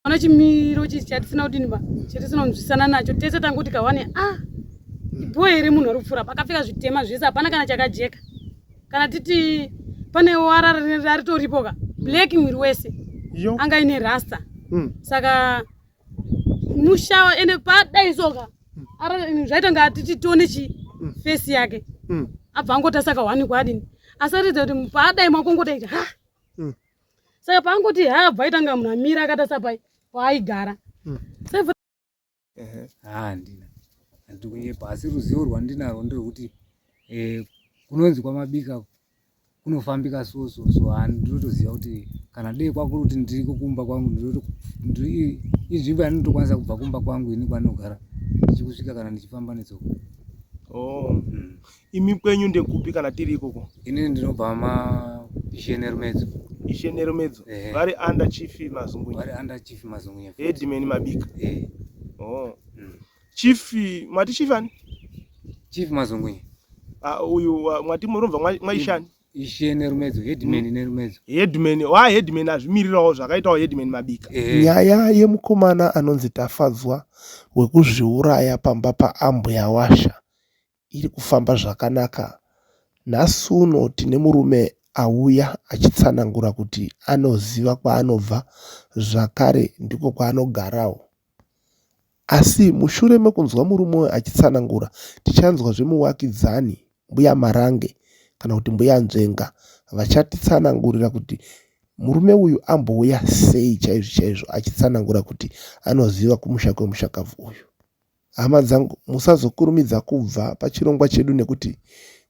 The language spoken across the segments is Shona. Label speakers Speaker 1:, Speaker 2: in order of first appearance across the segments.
Speaker 1: Ona chimiro chichi chatisina kudini ba chatisina kunzwisana nacho tese tanguti kawane ah ibhoe here munhu ari kupfuura pakapfeka zvitema zvese hapana kana chakajeka kana titi pane wara raritoripo ka black mwiri wese anga ine rasta mm. saka mushawa ende padai soka hmm. zvaita nga titi tione chi mm. face yake mm. abva angota saka wani kwadini asaridza kuti paadai makongotaita ha mm. saka paangoti habva aitanga munhu amira akatasa pai paaigara hmm.
Speaker 2: handina handikunyepa asi ruzivo rwandinarwo nderwekuti eh, kunonzi kwamabika kunofambika so so so handinotoziva kuti kana dei kwakuri kuti ndiriko kumba kwangu inzvimbo yanotokwanisa kubva kumba kwangu ini kwanogara ndichikusvika kana ndichifamba netsoka oh. Hmm.
Speaker 3: Imi kwenyu ndekupi kana tiri ikoko? Ini ndinobva ma
Speaker 2: Ishenerumedzo. Ishenerumedzo.
Speaker 3: Eh. Vari under chief Mazungunya. Vari under chief Mazungunya.
Speaker 2: Headman Mabika.
Speaker 3: Eh. Oh. Mm. Chief mati chief ani? Chief
Speaker 2: Mazungunya. Ah uh, uyu
Speaker 3: uh, mwati murumva mwaishani? ishe nerumedzo
Speaker 2: headman mm. nerumedzo headman wa
Speaker 3: headman azvimirirawo zvakaitawo headman mabika eh. nyaya
Speaker 4: yemukomana anonzi tafadzwa wekuzviuraya pamba paambuya washa iri kufamba zvakanaka. Nhasi uno tine murume auya achitsanangura kuti anoziva kwaanobva zvakare ndiko kwaanogarawo. Asi mushure mekunzwa murume uyu achitsanangura, tichanzwa zvemuvakidzani mbuya Marange kana kuti mbuya Nzvenga vachatitsanangurira kuti murume uyu ambouya sei chaizvo chaizvo achitsanangura kuti anoziva kumusha kwemushakabvu uyu. Hama dzangu, musazokurumidza kubva pachirongwa chedu nekuti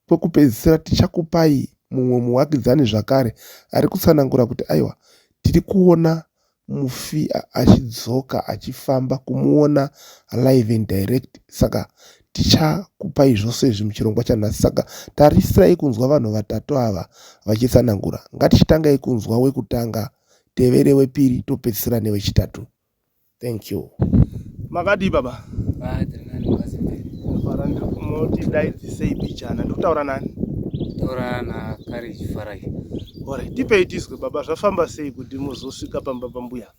Speaker 4: kwekupedzisira tichakupai mumwe muvakidzani zvakare, ari kutsanangura kuti, Aiwa, tiri kuona mufi achidzoka achifamba kumuona live and direct saka tichakupai zvose izvi muchirongwa chanhasi saka tarisirai kunzwa vanhu vatatu ava vachitsanangura ngatichitangai kunzwa wekutanga tevere wepiri topedzisira newechitatu thank you makadii
Speaker 3: baba ah, fara ndiri kumoti dai dzisei bijana ndiri kutaura nani taura
Speaker 2: nakariji farai ore tipei
Speaker 3: tizwe baba zvafamba sei kuti muzosvika pamba pambuya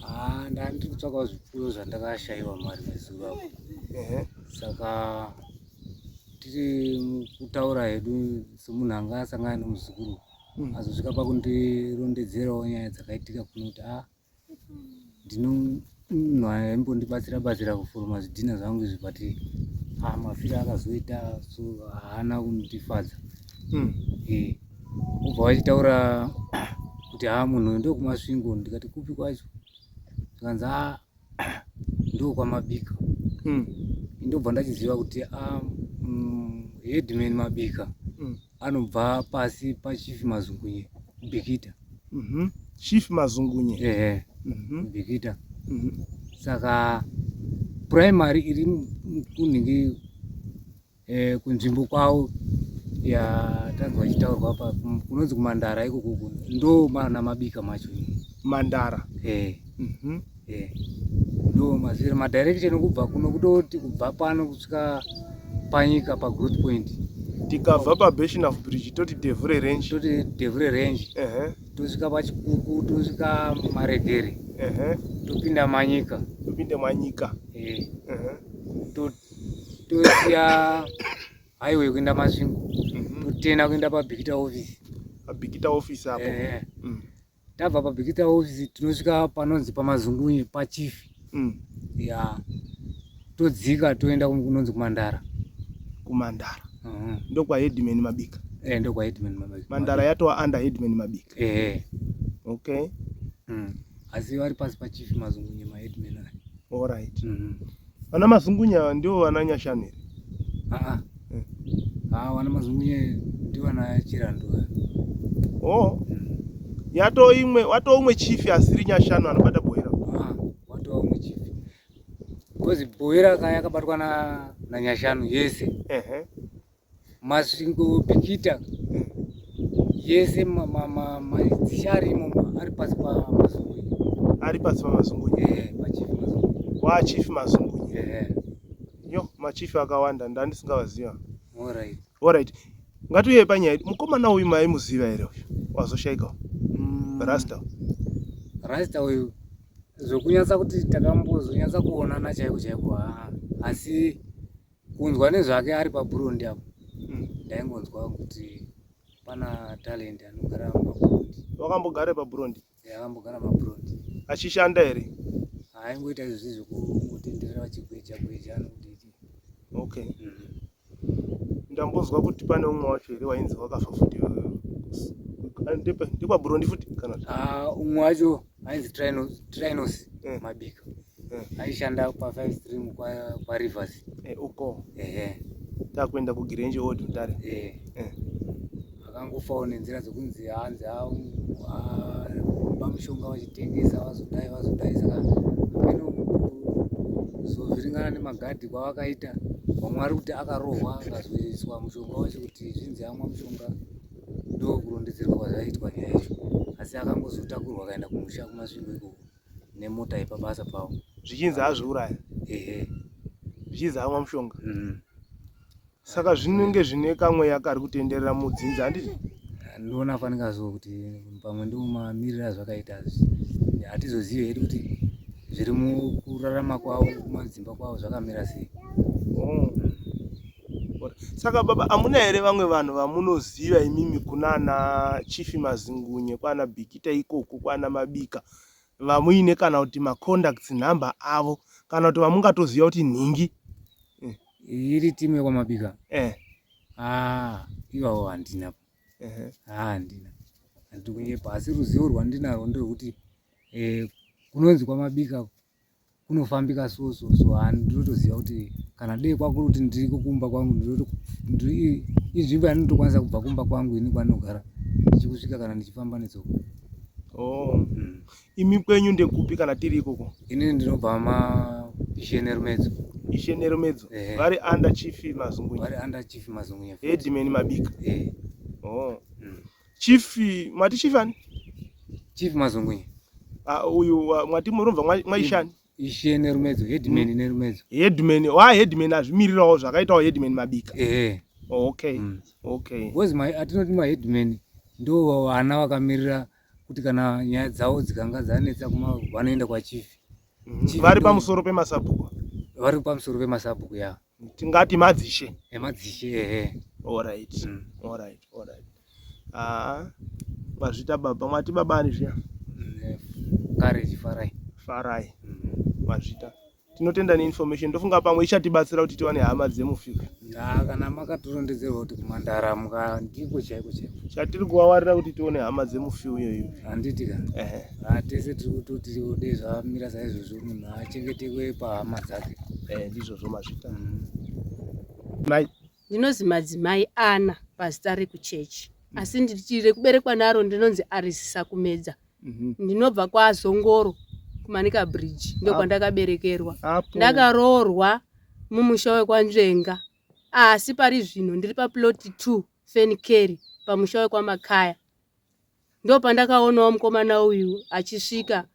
Speaker 3: ah,
Speaker 2: ndandiri kutsvakawo zvipfuyo zvandakashaiwa mari mezuva apo saka tiri kutaura hedu semunhu anga asangana nemuzukuru munhu azosvika pakundirondedzerawo nyaya dzakaitika kuno kuti a ah, ndinomunhu aimbondibatsira batsira kuforoma zvidhina zvangu izvi but a ah, mafiro akazoita so haana kundifadza hmm. eh, obva vachitaura kuti ha ah, munhu ndokumasvingo ndikati kupi kwacho zvikanzi a ndokwamabika mm. ndobva ndachiziva kuti ah, mm, headman mabika mm. anobva pasi pachief mazungunye bikita mm -hmm.
Speaker 3: chief mazungunye ehe mm -hmm. bikita
Speaker 2: mm -hmm. saka primary iri kunhingi eh, kunzvimbo kwavo ya tanzwa chitaurwa pa kunonzi kumandara iko kuku ndo mana mabika macho mandara
Speaker 3: eh mm -hmm. eh
Speaker 2: ndo mazvira ma direction kubva kuno kutoti kubva pano kusvika panyika pa growth point tikabva pa
Speaker 3: basin of bridge toti devure range toti devure range
Speaker 2: eh uh -huh. tosvika pa chikuku tosvika maregere eh uh -huh. topinda manyika topinda manyika eh uh -huh. tosiya highway kuenda masvingo mhm. totena kuenda pabikita office pabikita office
Speaker 3: apo eh, eh. Mm. tabva
Speaker 2: pabikita office tinosvika panonzi pamazungunye pachief mm. ya todzika toenda kunonzi kumandara kumandara
Speaker 3: mhm. ndokwa headman mabika eh, ndokwa headman
Speaker 2: mabika mandara yatova under
Speaker 3: headman mabika eh. okay mm.
Speaker 2: asi vari pasi pachief mazungunye maheadman ayo all right mm -hmm.
Speaker 3: Vana Mazungunya ndivo vana Nyashanere. Ah, eh.
Speaker 2: ah, vana Mazungunya ndivo vana Chirandu. Oh.
Speaker 3: Yato imwe, wato umwe chief asiri Nyashanu anobata Bohera. Ah, wato umwe
Speaker 2: chief. Because Bohera kaya kabatwa na na Nyashanu yese. Ehe. Uh -huh. Masvingo Bikita yese dzicharimo ari pasi paMazungunyi. Ari pasi
Speaker 3: paMazungunyi. Eh, paChief Mazungunyi. Wa
Speaker 2: Chief Mazungunyi. Eh.
Speaker 3: Yo, machief akawanda ndandisingavaziva. All right.
Speaker 2: All right. Ngatiuye
Speaker 3: panyaya. Mukomana uyu maimuziva here uyu? Wazoshaika. Mm. Rasta. Rasta uyu
Speaker 2: zvokunyatsa kuti takambozonyatsa kuonana chaiko chaiko haa asi kunzwa nezvake ari paburondi apo hmm. ndaingonzwa kuti pana talent anogara maburondi wakambogara paburondi
Speaker 3: akambogara maburondi
Speaker 2: achishanda here
Speaker 3: aingoita izvo
Speaker 2: zvi zvokutenderera vachigweja gweja anokudii okay
Speaker 3: hmm. ndambonzwa kuti pane umwe wacho here wainzi wakafa futi ndekwaburondi futi kana ah, umwe wacho
Speaker 2: ainzi trinos eh. mabika Eh. aishanda pa five stream kwa, kwa rivers Eh, uko
Speaker 3: ehe takuenda kugirenji old mutare eh. Eh. akangofawo
Speaker 2: nenzira dzekunzi hanzi vamushonga vachitengesa vazodai vazodai saka amene kuzovhiringana nemagadhi kwavakaita vamwe vari kuti akarohwa akazoiswa mushonga wacho kuti zvinzi amwa mushonga ndokurondedzerwa kwazvaitwa nyaya yacho asi akangozotakurwa akaenda kumusha kumasvingo ikoko nemota yepabasa pavo zvichinzi azviuraya
Speaker 3: ehe zvichinzi amwa mushonga mm. saka zvinenge zvine kamweya kari kutenderera mudzinza handiti ndoona fanika
Speaker 2: so kuti pamwe ndiwo mamiriro azvakaita hatizozive hedu kuti zviri mukurarama kwavo kumadzimba kwavo zvakamira sei oh.
Speaker 3: saka baba amuna here vamwe vanhu vamunoziva imimi kunana chifi mazingunye kwana bikita ikoko kwana mabika vamuine kana kuti macontacts number avo kana kuti vamungatoziva kuti nhingi eh.
Speaker 2: iri timu yekwamabika eh. ah, ivawo handina ah, handina handikunyepasi ruzivo rwandinarwo nderwekuti eh, kunonzi kwamabika kunofambika so so so and ndinotoziva kuti kana dei kwakuri kuti ndiriko kumba kwangu inzvimbo yanotokwanisa kubva kumba kwangu ini kwanogara ndichikusvika kana ndichifamba netsoko oh. mm.
Speaker 3: imi kwenyu ndekupi kana tiri ikoko ini ndinobva ma
Speaker 2: ishenerumedzo ishenerumedzo
Speaker 3: eh. vari eh. under chief mazungunyvari under chief mazungunya
Speaker 2: headman mabika
Speaker 3: eh. oh. mm. Chief mati chief ani? Chief
Speaker 2: Mazongwe. Ah uyu
Speaker 3: mwati muronva mwaishani? Ishe nerumedzo
Speaker 2: headman mm. nerumedzo. Headman wa
Speaker 3: headman azvimirirawo zvakaitawo headman mabika. Eh. Oh, okay. Mm. Okay.
Speaker 2: Because my atinoti ma headman ndo vana vakamirira kuti kana nyaya dzawo dzikanga dzanetsa kuma vanoenda kwa chief. Mm. Vari
Speaker 3: pamusoro pemasabhuku. Vari pamusoro
Speaker 2: pemasabhuku ya. Yeah. tingati madzishe
Speaker 3: emadzishe eh,
Speaker 2: ehe alright
Speaker 3: Mm. alright alright ah mazvita baba mwati baba ani zviya Mm,
Speaker 2: kare chifarai
Speaker 3: farai Mm. mazvita tinotenda neinformation ndofunga pamwe ichatibatsira kuti tiwane hama dzemufika Ah, kana
Speaker 2: makatirondedzerwa kuti kumandara muka ndiko chaiko chaiko chatiri kuwawarira kuti
Speaker 3: tione hama dzemufiu iyoyo handiti ka ehe
Speaker 2: Ah, tese tiri kutoti dai zvamira saizvozvo munhu achengetekwe pahama dzake eh, ndizvozvo mazvita
Speaker 3: mm. mai
Speaker 1: ndinozi madzimai ana pazita rekuchechi mm. asi nditi rekuberekwa naro ndinonzi arisisa kumedza mhm. ndinobva kwazongoro kumanika bridge ndokwandakaberekerwa ndakaroorwa mumusha wekwanzvenga asi pari zvino ndiri paploti two fenikeri pamusha wekwamakaya Ndopandakaonawo mukomana uyu achisvika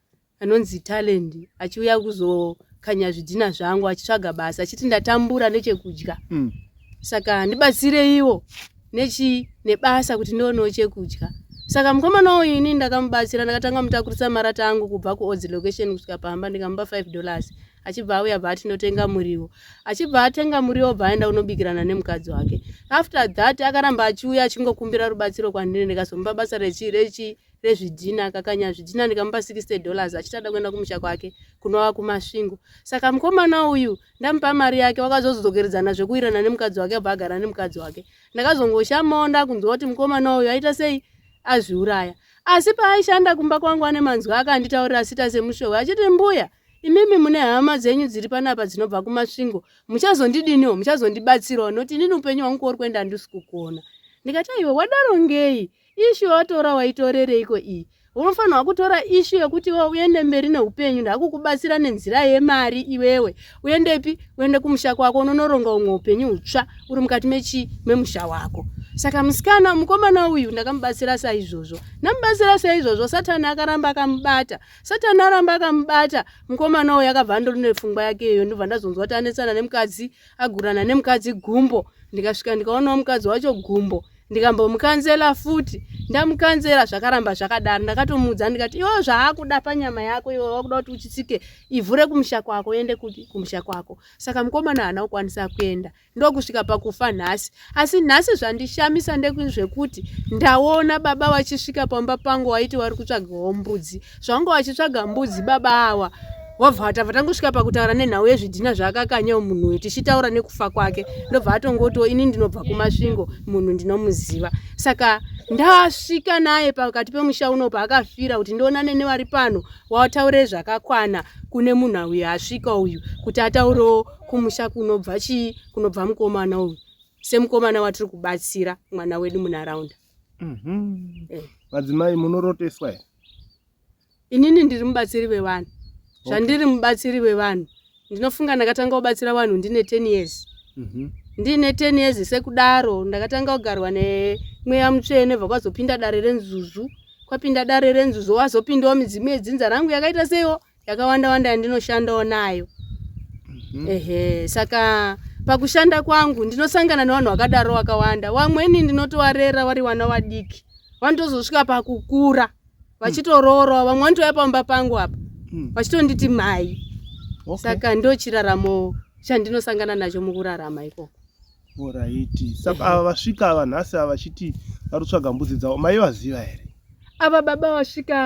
Speaker 1: anonzi Talent achiuya kuzokanya zvidhina zvangu achitsvaga basa achiti ndatambura nechekudya. Mm. Saka ndibatsireiwo nechi nebasa kuti ndionewo chekudya. Saka mukomana uyu ini ndakamubatsira ndakatanga mutakurisa marata angu kubva kuOdzi location kusvika pamba ndikamupa 5 dollars. achibva auya bva atinotenga muriwo achibva atenga muriwo bva aenda kunobikirana nemukadzi wake after that akaramba achiuya achingokumbira rubatsiro kwandiri ndikazomupa basa rechi rechi rezvidhina kakanya zvidhina ndikamupa 60 dollars achitada kuenda kumusha kwake kunova kumasvingo saka mukomana uyu ndamupa mari yake wakazozodzokeridzana zvekuwirana nemukadzi wake abva agara nemukadzi wake ndakazongoshamawo ndakunzwa kuti mukomana uyu aita sei azviuraya asi paaishanda kumba kwangu ane manzwi akanditaurira sita semushowe achiti mbuya imimi mune hama dzenyu dziri panapa dzinobva kumasvingo muchazondidiniwo muchazondibatsirawo noti inini upenyu hwangu kwauri kuenda handisi kukuona ndikati aiwa wadaro ngei ishu yawatora waitorereiko iyi unofanirwa kutora ishu yekuti iwe uende mberi neupenyu ndakukubatsira nenzira yemari iwewe uendepi uende kumusha kwako unonoronga umwe upenyu hutsva uri mukati mechii memusha wako saka musikana mukomana uyu ndakamubatsira saizvozvo ndamubatsira saizvozvo satani akaramba akamubata Satani aramba akamubata mukomana uyu akabva andori nepfungwa yake iyoyo ndobva ndazonzwa kuti anetsana nemukadzi agurana nemukadzi gumbo ndikasvika ndikaonawo mukadzi wacho gumbo ndikambomukanzela
Speaker 5: futi ndamukanzela zvakaramba zvakadaro ndakatomuudza ndikati iwo zvaakuda panyama yako iwe wakuda kuti uchitsike ivhu rekumusha kwako uende kumusha kwako saka mukomana haana kukwanisa kuenda ndokusvika pakufa nhasi asi nhasi zvandishamisa ndezvekuti ndaona baba vachisvika pamba pangu waiti wari kutsvagawo mbudzi zvanga vachitsvaga mbudzi baba awa wabva vatava tangosvika pakutaura nenhau yezvidhina zvaakakanyawo munhu uyu tichitaura nekufa kwake ndobva atongotiwo ini ndinobva kumasvingo munhu ndinomuziva saka ndasvika naye pakati pemusha uno paakafira kuti ndionane nevari pano wataure zvakakwana kune munhu uyu asvika uyu kuti ataurewo kumusha kunobva chii kunobva mukomana uyu semukomana watiri kubatsira mwana wedu munharaunda mhm. eh.
Speaker 3: madzimai munoroteswa here
Speaker 5: inini ndiri mubatsiri vevanhu zvandiri mubatsiri vevanhu ndinofunga ndakatanga kubatsira vanhu ndine ten years mhm. ndiine ten years sekudaro ndakatanga kugarwa nemweya mutsvene bva kwazopinda dare renzuzu kwapinda dare renzuzu wazopindawo midzimu yedzinza rangu yakaita seiwo yakawanda wanda yandinoshandawo nayo mm-hmm. ehe saka pakushanda kwangu ndinosangana nevanhu vakadaro wakawanda wamweni ndinotovarera vari wana vadiki vanotozosvika pakukura vachitoroorwa vamwe vanotouya pamba pangu apa hmm. vachitonditi mhai saka ndochiraramo chandinosangana nacho mukurarama ikoko Oraiti.
Speaker 3: Saka ava vasvika ava nhasi ava vachiti vari kutsvaga mbudzi dzavo maivaziva here? Ava baba
Speaker 5: vasvika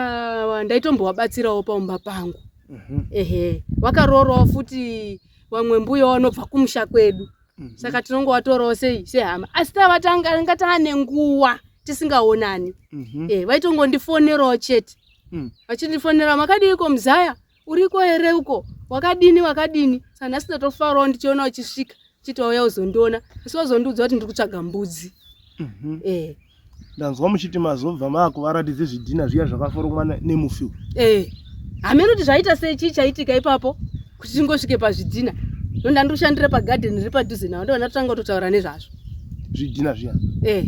Speaker 5: ava ndaitombovabatsirawo paumba pangu. Mhm. Ehe, vakaroorwawo futi vamwe mbuya vanobva kumusha kwedu. Mhm. Saka tinongovatorawo sei sehama. Asi tava tanga tanga taane nguva tisingaonani. Mhm. Eh, vaitongondifonerawo chete. Mm. Vachindifonera makadiiko muzaya? uriko here uko wakadini wakadini saka nhasi ndatofarawo ndichiona uchisvika chitouya uzondiona asi wazondiudza kuti ndiri kutsvaga mbudzi mhm. eh.
Speaker 3: ndanzwa muchiti mazobva maakuvaratidze zvidhina zviya zvakaforomwa nemufiwo eh.
Speaker 5: hameno kuti zvaita sei chii chaitika ipapo kuti tingosvike pazvidhina ndonda ndiri kushandira pagadheni riri padhuze navo ndovanatotanga kutotaura nezvazvo zvidhina zviya
Speaker 3: eh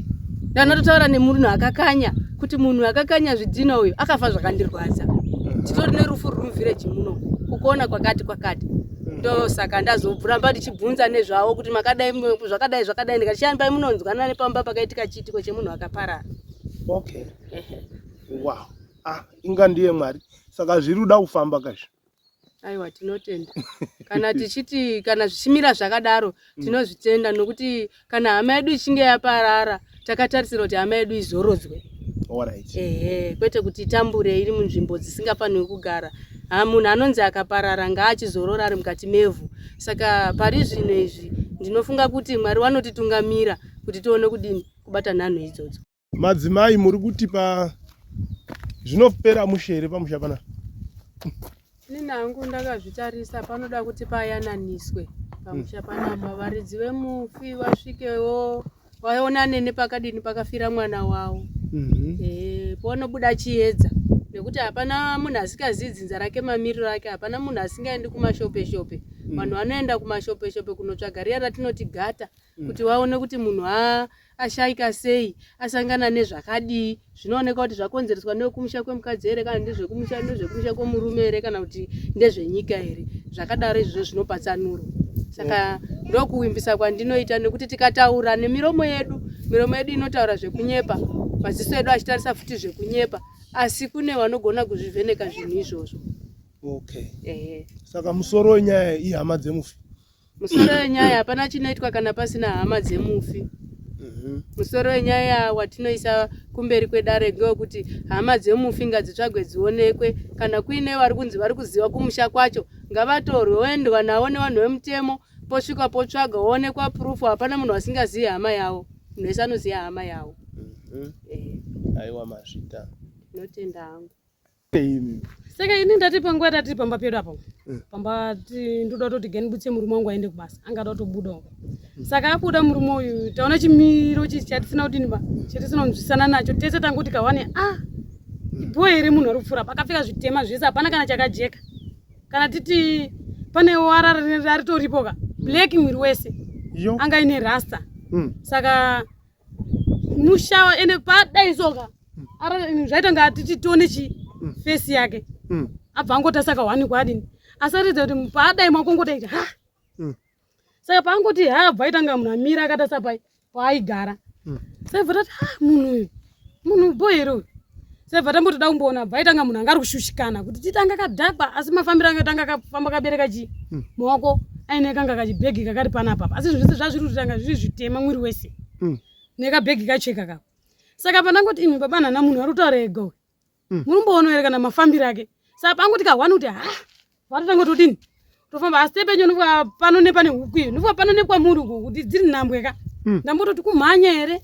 Speaker 3: ndana
Speaker 5: totaura nemunhu akakanya kuti munhu akakanya zvidhina uyu akafa zvakandirwadza titori nerufu ruri muvhireji muno kukona kwakati kwakati ndosaka ndazobvuramba ndichibvunza nezvavo kuti makadai zvakadai zvakadai ndikati chiyani pai munonzwana nepamba pakaitika chiitiko chemunhu akaparara
Speaker 3: okay wow ah inga ndiye mwari saka zviri kuda kufamba kazvi aiwa
Speaker 5: tinotenda kana tichiti kana zvichimira zvakadaro mm. tinozvitenda nokuti kana hama yedu ichinge yaparara takatarisira kuti hama yedu izorodzwe ehe
Speaker 3: kwete kuti
Speaker 5: itambure iri munzvimbo dzisingafanirwi kugara ha munhu anonzi akaparara ngaachizorora ari mukati mevhu saka pari zvino izvi ndinofunga kuti mwari wanotitungamira kuti tione kudini kubata nhanho idzodzo Madzimai muri
Speaker 3: kuti pa zvinopera mushe here pamusha pana?
Speaker 5: Nini hangu ndakazvitarisa panoda kuti payananiswe pamusha mm. panapa varidzi vemufi vasvikewo vaonane nepakadini pakafira mwana wavo mm -hmm. e, eh, ponobuda chiedza nekuti hapana munhu asikazivi dzinza rake mamiriro ake hapana munhu asingaendi kumashopeshope mm. vanhu vanoenda kumashopeshope kunotsvaga riya ratinoti gata mm. kuti vaone kuti munhu ashaika sei asangana nezvakadii zvinooneka kuti zvakonzereswa nekumusha kwemukadzi here kana ndezvekumusha ndezvekumusha kwemurume here kana kuti ndezvenyika here zvakadaro izvozvo zvinopatsanuro saka ndokuwimbisa kwandinoita nekuti tikataura nemiromo yedu miromo yedu inotaura zvekunyepa maziso edu achitarisa futi zvekunyepa asi kune vanogona kuzvivheneka zvinhu izvozvo okay.
Speaker 3: saka musoro wenyaya ihama dzemufi Musoro
Speaker 5: wenyaya hapana chinoitwa kana pasina hama dzemufi. Mhm. Musoro wenyaya watinoisa kumberi kwedare ngewekuti hama dzemufi ngadzitsvagwe dzionekwe kana kuine vari kunzi vari kuziva kumusha kwacho ngavatorwe voendwa navo nevanhu vemutemo posvika potsvaga woonekwa proof hapana munhu asingazivi hama yavo munhu wese anoziva hama yavo Mhm.
Speaker 3: Eh, Aiwa mazvita. ndinotenda
Speaker 5: hangu
Speaker 1: saka ini ndati panguva yatiri pamba pedu apo eh. pamba ndoda kutoti gani butse murume wangu aende kubasa angada kutobudawo hmm. saka abuda murume uyu taona chimiro chichi chatisina kudini ba chatisina kunzwisana nacho tese tanga kuti kawane a ah, hmm. ibhoe here munhu ari kupfuura pakapfeka zvitema zvese hapana kana chakajeka kana titi pane wara raritoripoka hmm. black mwiri wese anga ine rasta saka mushava ende padai soka zvaita nga tichitone chi mm. face yake mm. abva angoti asaka wani kwadini asaridza kuti padai makongota iti ha mm. saka paangoti ha abva aita nga munhu amira akatasa pai paaigara saibva tati ha munhu uyu munhu bohero uyu sebva tambotoda kumboona bva itanga munhu anga ari kushushikana kuti titanga kadhakwa asi mafambiro ange tanga kafamba kabereka chi hmm. maoko aine kanga kachibhegi kakari panapapa asi zvese zvazviri kuti tanga zviri zvitema mwiri wese hmm. nekabhegi kacheka kako saka pandangoti imi baba nhana munhu ari kutaura ega uyu hmm. muri kumboona here kana mafambiro ake saka pangoti kahwani kuti ha vatotanga todini tofamba asi tepenyu ndibwa pano nepane huku iyo ndibwa pano nekwamuri uku kuti dziri nhambwe ka hmm. ndambototi kumhanya here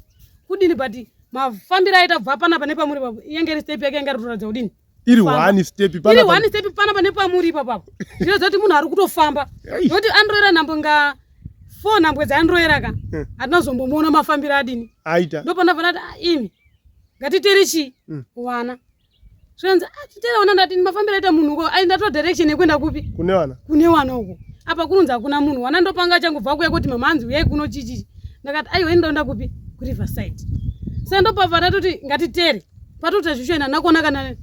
Speaker 1: kudini but mafambiro aita bva panapa nepamuri papo iyenge iri step yake yanga ritoratidza kudini iri one step
Speaker 3: iri one step panapa
Speaker 1: nepamuri ipapapo zvinoza kuti munhu ari kutofamba nokuti anroera nhambwe nga four nhambwe dzaanroera ka hmm. hatina zombomuona mafambiro adini aita ndopanafanati
Speaker 3: ah, imi
Speaker 1: ngatiteri chii hmm. wana zvanzi ah, chitera ona ndati mafambiro aita munhu uko ndatoa direction yekuenda kupi kune wana kune wana uko apa kunonzi hakuna munhu wana ndopanga changobva kuya kuti mama anzi uyai kuno chichichi ndakati aiwa ini ndaenda kupi kuriverside saka ndopava tatoti ngatitere patoti tazvishoina nakuona kana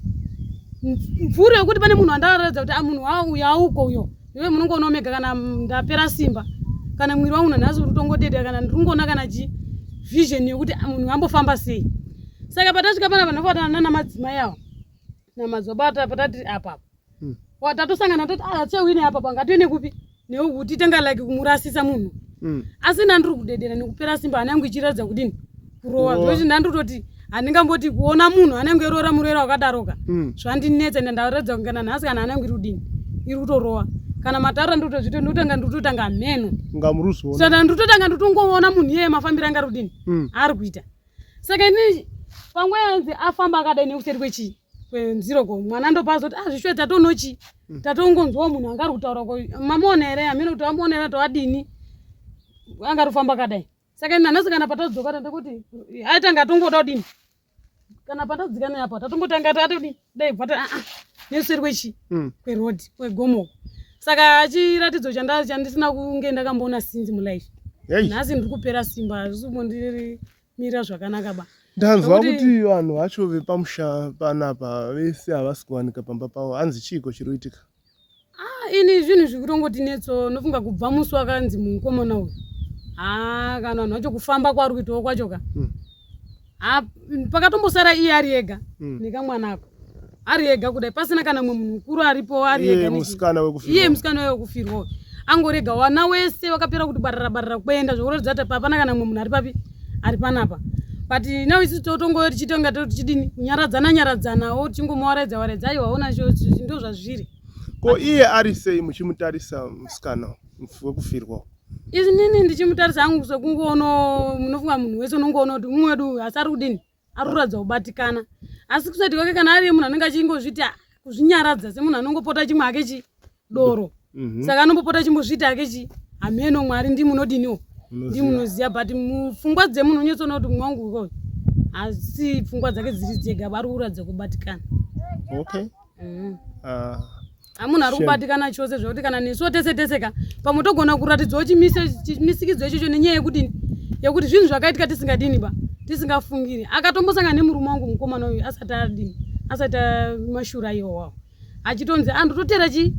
Speaker 1: mvuri yekuti pane munhu andaaratidza kuti ah, munhu uyo auko uyo iwe munongoona omega kana ndapera simba kana mwiri wangu nanhasi uri kutongoteta kana ndiri kungoona kana chi vision yekuti ah, munhu ambofamba sei saka patasvika pana vanhu vakuvatana nana madzimai avo namadzobata patatiri apapa hmm. watatosangana toti achewine ah, apapa ngatiwine kupi newe kuti tanga like kumurasisa munhu hmm. asi nandiri kudedera nekupera simba hana yangu ichiratidza kudini kurowa zvekuti ndandototi handingamboti kuona munhu anenge eroora murwere wakadaroka mm. zvandinetsa ende ndaratidza kungana nhasi kana anenge iri kudini iri kutorowa kana mataura ndotozvito ndotanga ndototanga mheno ngamurusana
Speaker 3: ndototanga
Speaker 1: ndotongoona munhu iyeye mafambiro anga rudini mm. ari kuita saka ini panguva yanzi afamba akadai nekuseri kwechii kwenziro ko mwana ndopazoti ah zvishuwe tatonochi mm. tatongonzwawo munhu anga ari kutaura ko mamuona here amene kuti amuona here toadini anga ari kufamba akadai saka ini nanhasi kana patadzoka tanda kuti aitanga atongoda kudini kana patadzika neapo tatongotanga tatodii dai bvata aa ah, ah, neseri kwechi hmm. kwerodi kwegomo saka chiratidzo chandisina kunge ndakamboona sinzi mulife nhasi ndiri kupera simba hazvisi kumbondirimira zvakanaka ba ndanzwa kuti
Speaker 3: vanhu vacho vepamusha panapa vese havasi kuwanika pamba pavo hanzi chiiko chiri kuitika ini
Speaker 1: zvinhu zvikutongoti netso nofunga kubva musi wakanzi mukomana uyu haa kana vanhu vacho kufamba kwaari kuitawo kwacho ka hmm. haa pakatombosara iye ari ega hmm. nekamwana ako ari ega kudai pasina kana mumwe munhu mukuru aripo ari egaiye musikana waye wekufirwa angorega wana wese wakapera kuti barara barara kuenda zvokuratidza kuti hapana kana mumwe munhu ari papi ari panapa but now isi totongoyo tichitonga tichidini kunyaradzana nyaradzanawo tichingomuwaraidza waraidza aiwa ona ndo zvazviri ko iye
Speaker 3: ari sei muchimutarisa musikana wekufirwa izinini
Speaker 1: ndichimutarisa hangu sekungoono munofunga munhu wese unongoona kuti umwe wedu asi ari kudini ari kuratidza kubatikana asi kusati kwake kana ari munhu anenge achingozviti ah, kuzvinyaradza semunhu anongopota chimwe ake chi doro mhm. saka anombopota chimbozviti ake chi hameno mwari ndi munodiniwo ndi munoziva but mupfungwa dzemunhu unyotsoona kuti mumwe wangu uko asi pfungwa dzake dziri dzega vari kuratidza kubatikana okay mm. uh. hamunhu ari kubatikana chose zvekuti kana nesuwo tese tese ka pamwe togona kuratidzawo chimisikidzo ichocho nenyaya yekudini yekuti zvinhu zvakaitika tisingadini ba tisingafungiri akatombosangana nemurume wangu mukomana uyu asati adini asati mashura iwowawo achitonzi andototera chii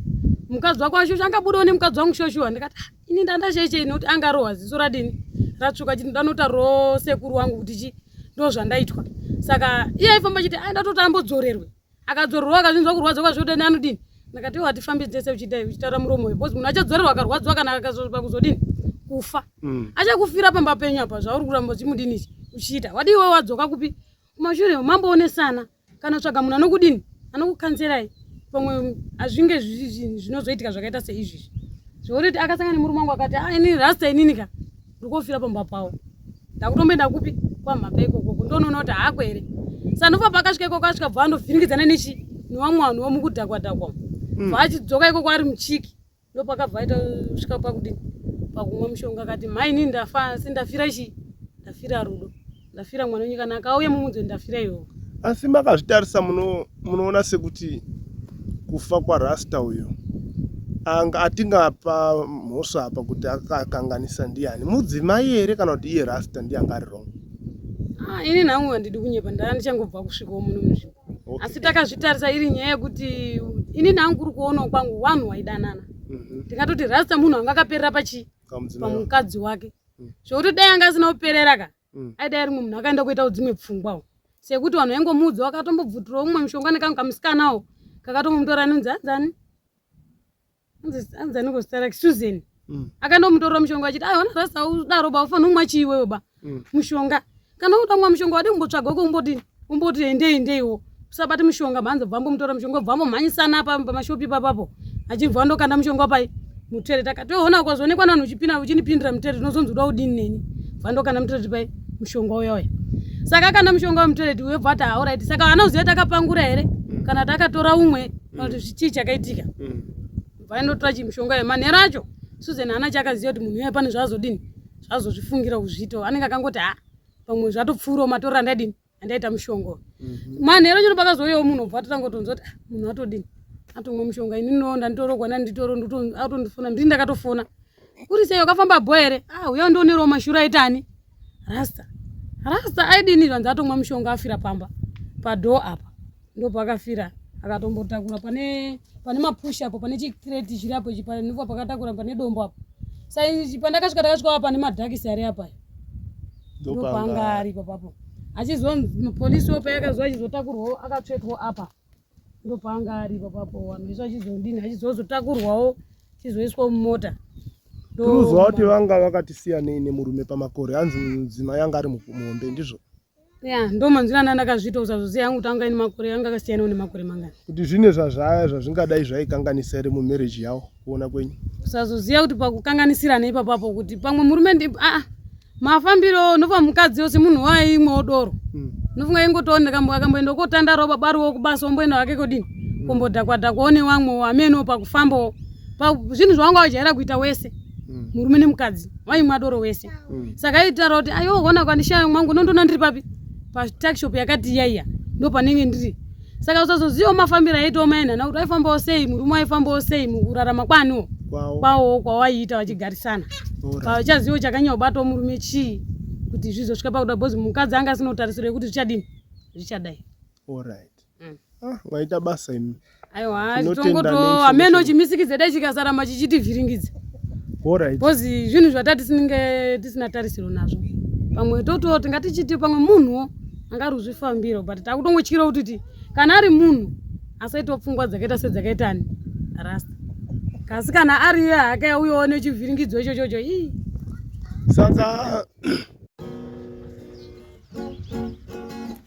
Speaker 1: mukadzi wako ashosha angabudawo nemukadzi wangu shoshuwa ndikati ah, ini ndandasheichei nokuti angarohwa ziso radini ratsvuka chiti ndanota rosekuru wangu kuti chi ndo zvandaitwa saka iye aifamba chiti aida ah, toti ambodzorerwe akadzorerwa akazvinzwa kurwadza kwazvotani anodini ndakati iwo hatifambi dzese uchidai uchitaura muromo uyu bcause munhu achadzorerwa akarwadziwa kana akazopa kuzodini kufa mm. achakufira pamba penyu apa zvauri kuramba uchimudinisi uchiita wadi iwe wadzoka kupi kumashure mamboonesana kana tsvaga munhu anokudini anokukanserai pamwe azvinge zvinozoitika zvakaita seizvizvi zvokuti akasangana nemurume wangu akati ah, ini rasta inini ka ndikofira pamba pavo ndakutomboenda kupi kwamhapa ikoko kundonoona kuti haako here sanova pakasvika ikoko asvika bva andovhiringidzana nechi nevamwe vanhu vamukudhakwa dhakwa mm. bva achidzoka ikoko ari muchiki ndopakabva aita svika pakudini pakumwa mushonga akati mhaini ndafa asi ndafira chii ndafira rudo ndafira mwana wenyu kana akauya mumudzi ndafira iwo asi makazvitarisa
Speaker 3: munoona sekuti kufa kwarasta uyo anga atingapa mhosva apa kuti akakanganisa ndiani mudzimai here kana kuti iye rasta ndiye anga ari wrong ah, ini
Speaker 1: nhangu handidi kunyepa ndaa ndichangobva kusvikawo muno muzvimbo okay. asi takazvitarisa iri nyaya yekuti ini nhangu kuri kuonawo kwangu wanhu waidanana mhm. ndingatoti mm -hmm. rasta munhu anga akaperera pachii pamukadzi wake mm. zvokuti dai anga asina kuperera ka mm. aidai ari munhu akaenda kuitawo dzimwe pfungwawo sekuti vanhu vaingomuudza vakatombobvutirawo mumwe mushonga nekanhu kamusikanawo kakatombomutora anonzi anzani anzani kuzita rake susan mm. akaenda kumutorera mushonga achiti aiona rasa udaroba ufanira kumwa chiiwewoba mushonga kana uda kumwa mushonga wadi kumbotsvaga uko kumbodini umboti endei ndeiwo usabate mushonga mhanza bvambo mutora mushonga bvambo mhanyisana pamashopi papapo achibva andokanda mushonga pai mutere takatoona ukazoonekwa nanhu uchipina uchindipindira mutere tinozonzi uda udini neni bva ndokanda mutere pai mushonga uya uya saka akanda mushonga wemutere ti webva ati hauraiti saka anoziva takapangura here mm. kana takatora umwe kana kuti mm. zvichii chakaitika mm. bva ndotora chimushonga uyo manhero acho susan hana chakaziva kuti munhu uya pane zvaazodini zvazozvifungira kuzviita anenge akangoti ha pamwe zvatopfuurawo matorero andaidini andaita mushonga mhm. manhero chino pakazouyawo munhu obva atotangotonzwa kuti ah, munhu atodini atomwa mushonga ini no ndanditorogwa nani nditoro atondifona ndini ndakatofona kuri sei wakafamba bho here a ah, uya ndionerewo mashura aitani rasta rasta aidini vanzi atomwa mushonga afira pamba padhoo apa ndopakafira akatombotakura pane pane mapush apo pane chikreti chiri apo chipa ndipo pakatakura pane dombo apo sa pandakasvika takasvika apa pane madhakisi ari apa ndopanga ari papapo achizonzi mupolisi wo payakazo achizotakurwawo akatsvetwa apa ndopanga ari papapo vanhu vese achizondini achizozotakurwawo chizoiswa mumota tinoziva
Speaker 3: kuti vanga vakatisiyanei nemurume pamakore hanzi mudzima yanga ari muhombe ndizvo ya ndo
Speaker 1: manzwira anda ndakazviita usazoziva yangu tanga ini makore anga akasiyana une makore mangani kuti zvine zvazvaya
Speaker 3: zvazvingadai zvaikanganisa here mumarriage yawo kuona kwenyu usazoziva kuti
Speaker 1: pakukanganisirana ipapapo kuti pamwe murume ndi aa ah, mafambiro ndofa mukadzi yose munhu waye imwe odoro hmm. ndofunga ingotoona kambo akamboenda kotanda roba bariwo kubasa omboenda wake kodini hmm. kombodhakwadhakwa one wamwe wameno pakufambawo zvinhu zvawangu ajaira kuita wese mm. murume nemukadzi waimwa doro wese mm. saka aitaura kuti ayo ona kwandishaya mwangu nondona ndiri papi patakshop yakati yaiya ndo panenge ndiri saka usazoziva mafambiro aitawo maenhana kuti aifambawo sei murume waifambawo sei mukurarama kwaniwo kwawo kwawaiita vachigarisana pachazivo chakanyanya kubatawo murume chii kuti zvizosvika pakuda bhozi mukadzi anga asina utarisiro yekuti zvichadini zvichadai mm. ah,
Speaker 3: maita basa imi aiwa tongoto
Speaker 1: ameno chimisikidze dai chikasaramba chichitivhiringidza bcause zvinhu zvatati sinenge tisina tarisiro nazvo pamwe toto tingatichiti pamwe munhuwo angaruzvifambiro but takutongotyira kutiti kana ari munhu asaitawo pfungwa dzakaita sedzakaitani rasta kasi kana ari iye hake uyewo nechivhiringidzo ichochocho ii saka